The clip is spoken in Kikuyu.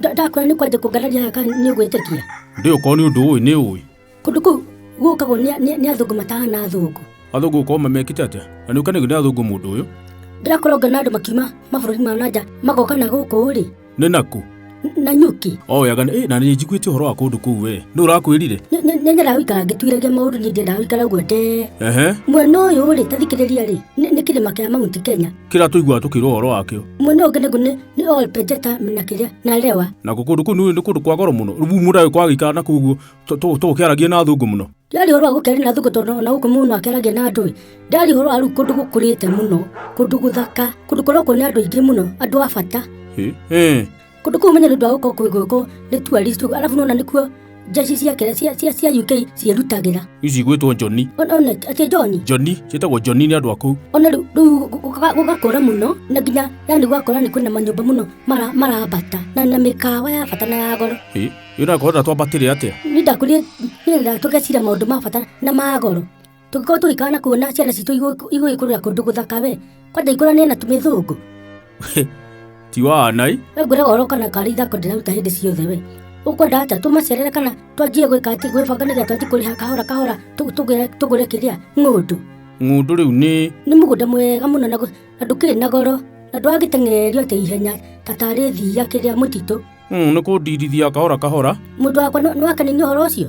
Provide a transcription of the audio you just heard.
Nda- ndakwĩra nĩ kwanjia kũngararia haha kana nĩ ũgwĩtĩkia ndĩ ũkorwo nĩ ũndũ ũĩ nĩ ũĩ kũndũ kũu gũkagwo nĩ- nĩ nĩ athũngũ matahana athũngũ athũngũ gũkorwo mamekĩte atĩa na nĩ ũkenagio nĩ athũngũ mũndũ ũyũ ndĩrakorwo ngona andũ makiuma mabũrũri ma nanja magoka na gũkũ rĩ nĩ naku na nyũki oyaga nĩ- na nĩ njiguĩte ũhoro wa kũndũ kũu we nĩ ũrakwĩrire Nĩ- nĩ- nĩ nyaraga gũikara ngĩtuiragia maũndũ niĩ ndiendaga gũikara ũguo ndee ehe mwena ũyũ rĩ tathikĩrĩria rĩ nĩ nĩ kĩrĩma kĩa mount kenya kĩrĩa tũiguaga tũkĩrwo ũhoro wakĩo Mwena ũngĩ naguo nĩ nĩ all Pejeta na kĩrĩa na Lewa. na kũ- kũndũ kũu nĩ nĩ kũndũ kwa goro mũno rĩu mũndũ agĩkorwo agĩikara na koguo tũgũkĩaragia na thũngũ mũno Ndari ũhoro wa gũkĩaria na thũngũ tondũ ona gũkũ mũndũ akĩaragia na andũ. Ndari ũhoro wa rĩu kũndũ gũkũrĩte mũno, kũndũ gũthaka, kũndũ kũrokwo nĩ andũ aingĩ mũno, andũ a bata. Ĩ, ĩ, Kũndũ kũu menya nĩũndũ wa gũkorwo kwĩ gũkũ nĩ tourist ũguo, arabu nona nĩkuo njeci cia kĩrĩa cia, cia, cia UK ciĩrutagĩra. Ici igwĩtwo Joni. Ona ona atĩ John, Joni, ciĩtagwo Joni nĩ andũ a kũu. ona rĩu rĩu gũga- gũgakũra mũno na nginya yani gũgakũra nĩ kwĩna manyũmba mũno mara- marambata na na mĩkawa ya bata na ya goro. Ĩ, ĩ ũrakorwo na twambatĩre atĩa? Nĩ ndakũrire nĩgetha tũgecira maũndũ ma bata na ma goro. tũngĩkorwo tũgĩikara na kuona ciana citũ igũ- igũgĩkũrĩra kũndũ gũthaka we kwenda ikũrane na tũmĩthũngũ ti wanai we ngwĩraga oro kana karĩ ithako ndĩraruta hĩndĩ ciothe we ũkwenda ata tũmacerere kana twanjie gwĩka atĩ gwĩbanga nĩgetha twanjie kũrĩha kahora kahora tũ- tũgũre- tũgũre kĩrĩa ng'ũndũ ng'ũndũ rĩu nĩ nĩ mũgũnda mwega mũno na gũ- na ndũkĩrĩ na goro na ndwagĩteng'ererio atĩ ihenya ta tarĩ thiia kĩrĩa mũtitũ Mm, nĩ kũndirithia kahora kahora mũndũ wakwa nĩ- nĩwakenio nĩ ũhoro ũcio